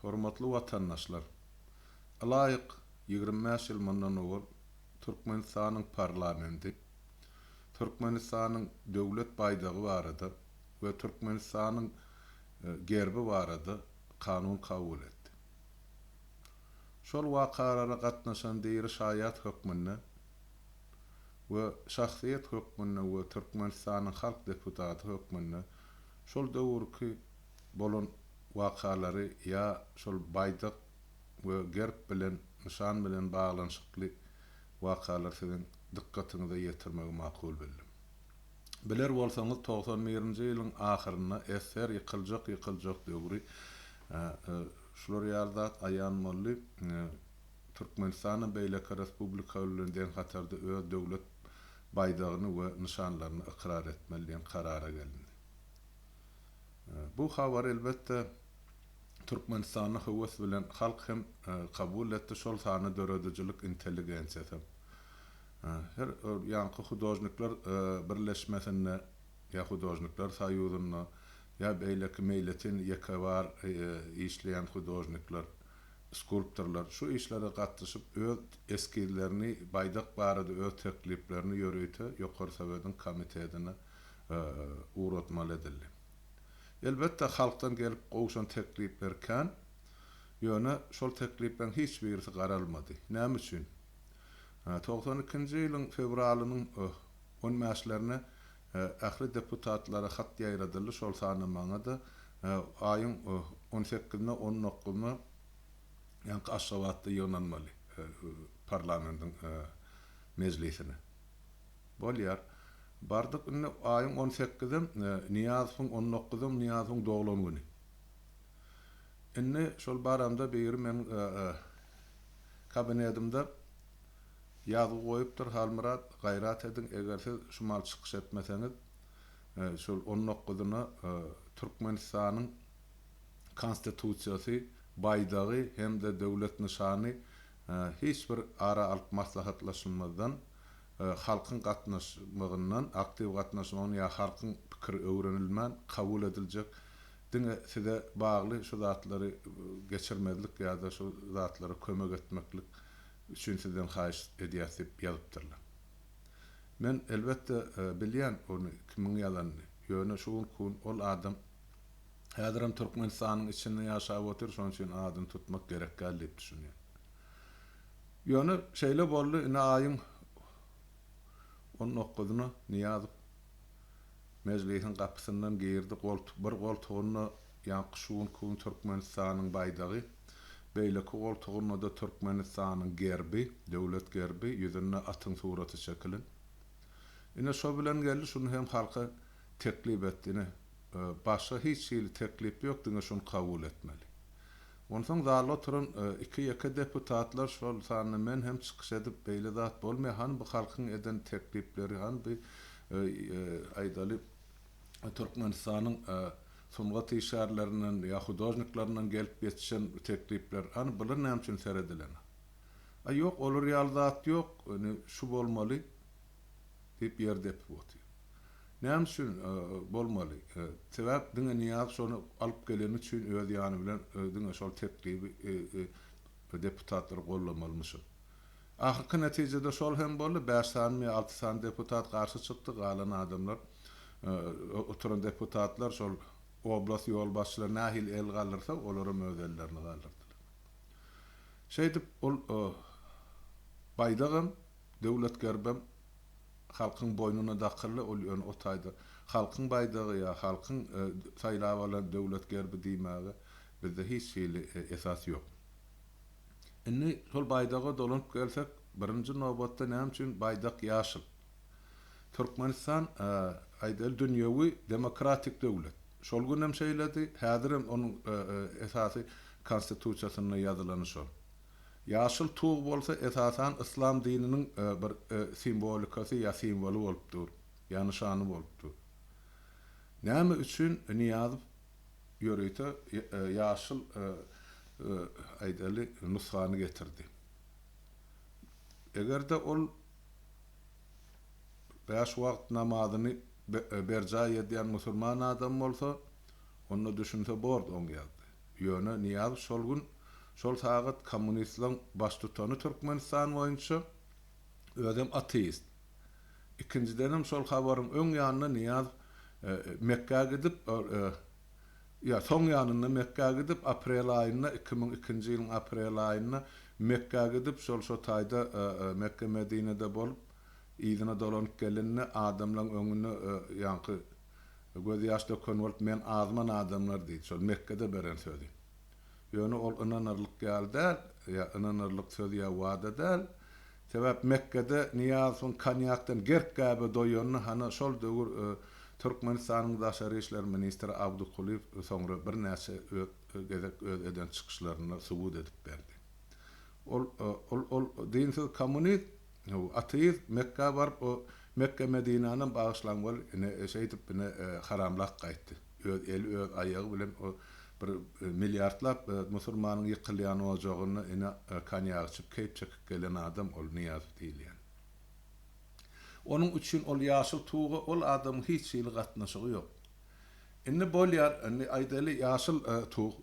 Hormatly watandaşlar! Ylaýyk ýigrimi bäş ýyl mundan owal Türkmenistanyň parlamenti Türkmenistanyň Döwlet baýdagy barada we Türkmenistanyň Gerbi barada kanun kabul etdi. Şol wakalara gatnaşan diri şaýat hökmünde we şahsyýet hökmünde we Türkmenistanyň halk deputaty hökmünde şol döwürki bolan wakalary ýa şol baýdak we gerb bilen, nyşan bilen baglanyşykly wakalary siziň dykgatyňyza ýetirmegi makul bildim. Biler bolsaňyz togsan birinji ýylyň ahyrynda SSR ýykyljak ýykyljak döwri şular ýaly zat aýan boldy, Türkmenistana beýleki respublikalar bilen deň hatarda öz döwlet baýdagyny we nyşanlaryny ykrar etmeli diýen karara gelindi. Bu habar elbetde Türkmenistanda höwes bilen halk hem kabul etdi şol sanda döredijilik intelligensiýasy. Her ýanky hudožnikler birleşmesinde ýa hudožnikler soýuzynda ýa beýleki meýletin ýeke bar işleýän hudožnikler, skulptorlar şu işlere gatnyşyp öz eskizlerini baýdak barada öz tekliplerini ýörite ýokary sowediň komitetine ugratmaly edildi. Elbetde, halkdan gelip gowşan teklipler kän, ýöne şol teklipleriň hiç birisi garalmady. Näme üçin? Togsan ikinji ýylyň fewralynyň on bäşlerine ähli deputatlara hat ýaýradyldy, şol sanda maňa-da, aýyň on sekizine, on dokuzyna ýaňky Aşgabatda ýygnanmaly parlamentiň mejlisine. Bolýar. Bardyk indi aýyň on sekizem Nyýazowyň, on dokuzam Nyýazowyň doglan güni. Indi şol baramda biri meniň kabinedimde ýazgy goýupdyr, Halmyrat, gaýrat ediň, eger siz şu maly çykyş etmeseňiz, şol on dokuzyna Türkmenistanyň Konstitusiýasy, baýdagy hem-de döwlet nyşany hiç bir ara alyp maslahatlaşylmazdan, halkyň gatnaşmagyndan, aktiw gatnaşmagyndan ýa halkyň pikiri öwrenilmän kabul ediljek diňe size bagly şu zatlary geçirmezlik ýa-da şu zatlara kömek etmeklik üçin sizden haýyş edýäs diýip ýazypdyrlar. Men elbetde bilýän ony kimiň ýazanyny, ýöne şu günki gün ol adam häzirem Türkmenistanyň içinde ýaşap otyr, şonuň üçin adyny tutmak gerekdäl diýip düşünýän. Ýöne şeýle boldy, ine aýyň on dokuzyna Nyýazow Mejlisiň gapysyndan girdi, bir goltugynda ýaňky şu günki gün Türkmenistanyň baýdagy, beýleki goltugynda-da Türkmenistanyň gerbi, döwlet gerbi, ýüzünde atyň suraty çekilen. Ine şo bilen geldi, şuny hem halka teklip etdi, ine, başga hiç hili teklip ýok, diňe şuny kabul etmeli. Onsoň zalda oturan iki-ýeke deputatlar, şol sanda men hem çykyş edip, Beýle zat bolmaýar, hany bu halkyň eden teklipleri, hany bu, aýdaly, Türkmenistanyň sungat işgärlerinden ýa hudožniklerden gelip ýetişen teklipler, hany bular näme üçin seredilenok? A ýok, olar ýaly zat ýok, indi şu bolmaly. diýip ýer depip otyr. Näme üçin bolmaly? Sebäp diňe Nyýaz şony alyp geleni üçin öz ýany bilen diňe şol teklibi deputatlar gollamalymyşyn. Ahyrky netijede şol hem boldy, bäş sanymy ýa alty sany deputat garşy çykdy, galan adamlar, oturan deputatlar şol oblast ýolbaşçylary nähili el galdyrsa olaram öz ellerini galdyrdylar. Şeýdip ol baýdagam. Döwlet gerbem halkyň boýnuna dakyldy, ol ýöne o taýda halkyň baýdagy ýa halkyň saýlap alan Döwlet gerbi diýmäge bizde hiç hili esas ýok. Indi şol baýdaga dolanyp gelsek, birinji nobatda näme üçin baýdak ýaşyl? Türkmenistan, aýdaýly, dünýewi demokratik döwlet. Şol günem şeýledi, häzirem onuň esasy Konstitusiýasynda ýazylany şol. Ýaşyl tug bolsa esasan yslam dininiň bir simwolikasy ýa simwoly bolup dur, ýa nyşany bolup dur. Näme üçin Nyýazow ýörite ýaşyl aýdaly nusgany getirdi? Eger-de ol bäş wagt namazyny berjaý edýän musulman adam bolsa, onda düşünse bordy oň ýagdaýy. Ýöne Nyýazow şol gün, şol sagat kommunistleriň baştutany Türkmenistan boýunça, özem ateist. Ikinjidenem şol habaryň öň ýanynda Nyýazow Mekgä gidip, ýa soň ýanynda Mekgä gidip, aprel aýynda, iki müň ikinji ýylyň aprel aýynda Mekgä gidip, şol şo taýda Mekge-Medinede bolup, yzyna dolanyp gelende adamlaryň öňünde ýaňky Göz ýaş döken bolup men azman adamlar diýdi şol Mekgede beren sözi. Ýöne ol ynanarlyk ýaly däl, ýa ynanarlyk söz ýa wada däl. Sebäp Mekgede Nyýazowyň konýakdan gerk gäbe doýanyny hany şol döwür Türkmenistanyň daşary işler ministri Abdukulyýew soňra birnäçe gezek öz eden çykyşlarynda subut edip berdi. Ol ol ol dinsiz kommunist. Hawa, ateist Mekgä baryp, o Mekge-Medinänem bagyşlaň bol, ine, şeýdip, ine, haramlap gaýtdy. Öz eli, öz aýagy bilen o bir milliardlap musurmanyň ýykylýan ojagynda, ine, konýak içip, keýp çekip gelen adam ol Nyýazow diýilýän. Onuň üçin ol ýaşyl tuga ol adamyň hiç hili gatnaşygy ýok. Indi bolýar, indi aýdaýly, ýaşyl tug.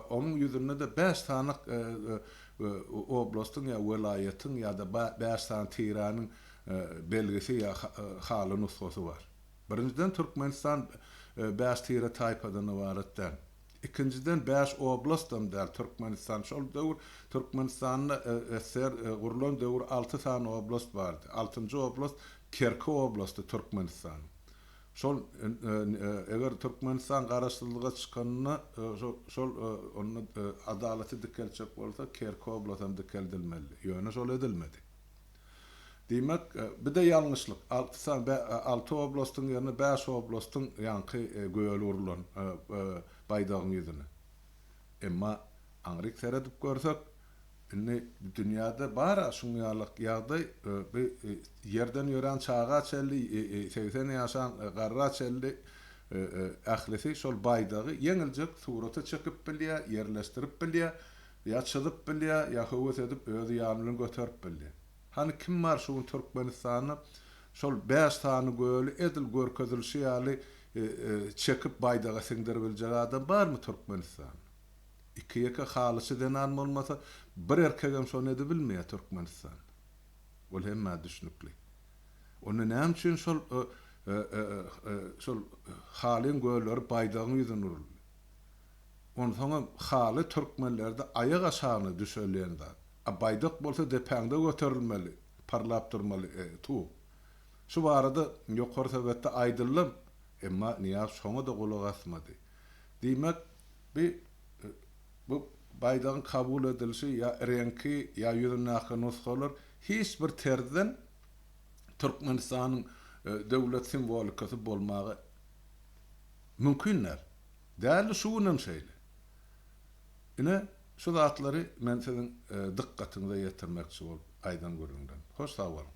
Onuň ýüzünde-de bäş sany oblastyň ýa welaýatyň ýa-da bäş sany tiranyň belgisi ýa haly nusgasy bar. Birinjiden, Türkmenistan bäş tire-taýpadan ybarat däl. Ikinjiden, bäş oblastdan däl Türkmenistan. Şol döwür Türkmenistanda SSR gurlan döwür alty sany oblast bardy. Altynjy oblast Kerki oblasty Türkmenistanyň. Şol eger Türkmenistan garaşsyzlyga çykanda şol onda adalaty dikeltjek bolsa Kerki oblasam dikeldilmelidi. Ýöne şol edilmedi. Diýmek bide ýalňyşlyk alty sany alty oblastyň ýerine bäş oblastyň ýaňky göli urlan baýdagyň ýüzüne. Emma aňryk seredip görsek. Indi dünýäde bar-a şuň ýalyk ýagdaý. Bi ýerden ýörän çaga çenli, segsen ýaşan garra çenli ählisi şol baýdagy ýeňiljek surata çekip bilýär, ýerleşdirip bilýär, ýa çyzyp bilýär, ýa höwes edip özi ýany bilen göterip bilýär. Hany kim bar şu gün Türkmenistanda şol bäş sany göli edil görkezilişi ýaly çekip baýdaga siňdiribiljek adam barmy Türkmenistanda? Iki-ýeke halyçy zenan bolmasa, bir erkegem şony edibilmeýär Türkmenistanda. Ol hemmä düşnükli. Onda näme üçin şol şol halyň gölleri baýdagyň ýüzüne uruldy? Onsoňam haly türkmenlerde aýak aşagyna düşeliýen zat. A baýdak bolsa depäňde göterilmeli, parlap durmaly tug. Şu barada Ýokary Sowetde aýdyldy, emma Nyýaz şoňa-da gulak asmady. Diýmek, Bi bu baýdagyň kabul edilişi ýa reňki, ýa ýüzündäki nusgalar hiç bir terzden Türkmenistanyň döwlet simwolikasy bolmagy mümkin däl. Däldi, şu günem şeýle. Ine, şu zatlary men siziň dykgatyňyza ýetirmekçi bolup aýdan gürrüňlerim. Hoş sag boluň.